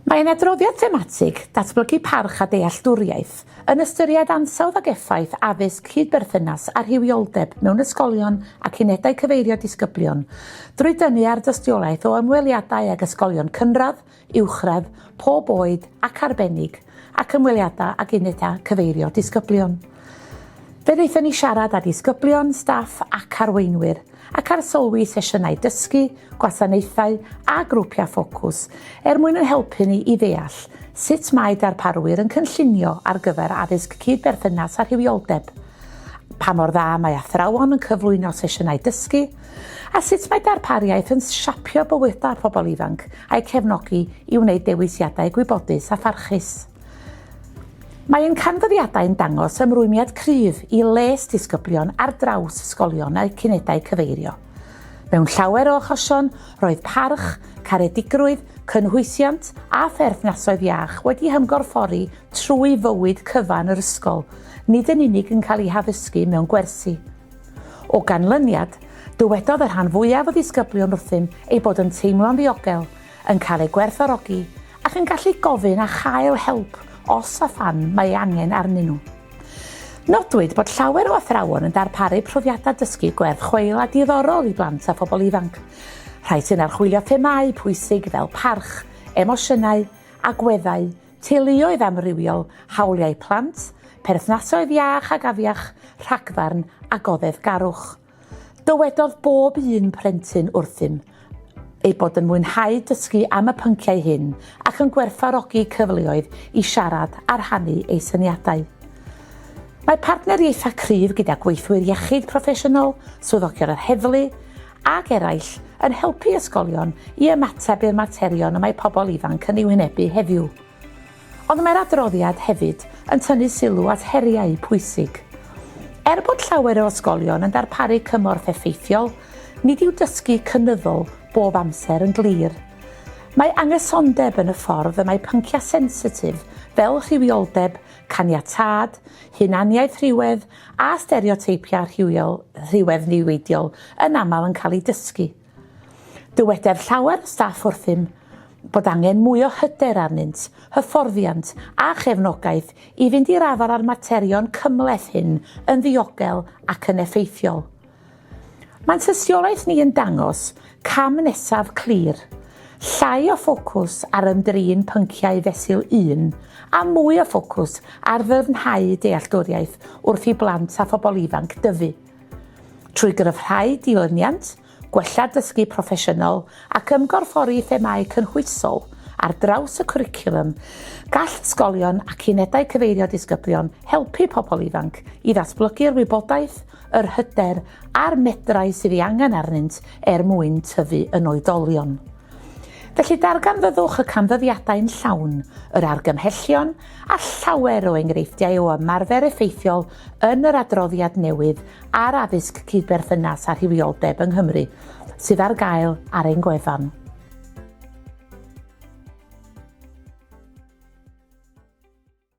Mae ein adroddiad thematig, Datblygu Parch a Dealltwriaeth, yn ystyried ansawdd ac effaith addysg cyd-berthynas a rhywioldeb mewn ysgolion ac unedau cyfeirio disgyblion, drwy dynnu ar dystiolaeth o ymweliadau ag ysgolion cynradd, uwchradd, pob oed ac arbennig, ac ymweliadau ag unedau cyfeirio disgyblion. Fe wnaethon ni siarad â disgyblion, staff ac arweinwyr, ac arsylwi sesiynau dysgu, gwasanaethau a grwpiau ffocws er mwyn ein helpu ni i ddeall sut mae darparwyr yn cynllunio ar gyfer addysg cyd-berthynas a rhywioldeb, pa mor dda mae athrawon yn cyflwyno sesiynau dysgu, A sut mae darpariaeth yn siapio bywydau pobl ifanc a'u cefnogi i wneud dewisiadau gwybodus a pharchus? Mae ein canfyddiadau yn dangos ymrwymiad cryf i les disgyblion ar draws ysgolion a'u cunedau cyfeirio. Mewn llawer o achosion, roedd parch, caredigrwydd, cynhwysiant a pherthnasoedd iach wedi hymgorffori trwy fywyd cyfan yr ysgol, nid yn unig yn cael eu haddysgu mewn gwersi, O ganlyniad, dywedodd y rhan fwyaf o ddisgyblion wrthym eu bod yn teimlo'n ddiogel, yn cael eu gwerthfawrogi ac yn gallu gofyn a chael help os a phan mae ei angen arnyn nhw. Nodwyd bod llawer o athrawon yn darparu profiadau dysgu gwerth chweil a diddorol i blant a phobl ifanc, rhai sy'n archwilio themâu pwysig fel parch, emosiynau, agweddau, teuluoedd amrywiol, hawliau plant, perthnasoedd iach ac afiach, rhagfarn a goddefgarwch. Dywedodd bob un plentyn wrthym eu bod yn mwynhau dysgu am y pynciau hyn ac yn gwerthfawrogi cyfleoedd i siarad a rhannu eu syniadau. Mae partneriaethau cryf gyda gweithwyr iechyd proffesiynol, swyddogion yr heddlu, ac eraill, yn helpu ysgolion i ymateb i'r materion y mae pobl ifanc yn eu hwynebu heddiw. Ond mae'r adroddiad hefyd yn tynnu sylw at heriau pwysig. Er bod llawer o ysgolion yn darparu cymorth effeithiol, nid yw dysgu cynyddol bob amser yn glir. Mae anghysondeb yn y ffordd y mae pynciau sensitif fel rhywioldeb, caniatâd, hunaniaeth rhywedd a stereoteipiau rhywiol rhywedd niweidiol yn aml yn cael eu dysgu. Dyweder llawer o staff wrthym bod angen mwy o hyder arnynt, hyfforddiant a chefnogaeth i fynd i'r afael â'r materion cymhleth hyn yn ddiogel ac yn effeithiol. Mae'n tystiolaeth ni yn dangos cam nesaf clir, llai o ffocws ar ymdrin pynciau fesul un a mwy o ffocws ar ddyfnhau dealltwriaeth wrth i blant a phobl ifanc dyfu. Trwy gryfhau dilyniant, gwella dysgu proffesiynol ac ymgorffori themâu cynhwysol ar draws y cwricwlwm, gall ysgolion ac unedau cyfeirio disgyblion helpu pobl ifanc i ddatblygu'r wybodaeth, yr hyder a'r medrau sydd ei angen arnynt er mwyn tyfu yn oedolion. Felly darganfyddwch y canfyddiadau'n llawn, yr argymhellion a llawer o enghreifftiau o ymarfer effeithiol yn yr adroddiad newydd ar addysg cydberthynas a rhywioldeb yng Nghymru sydd ar gael ar ein gwefan.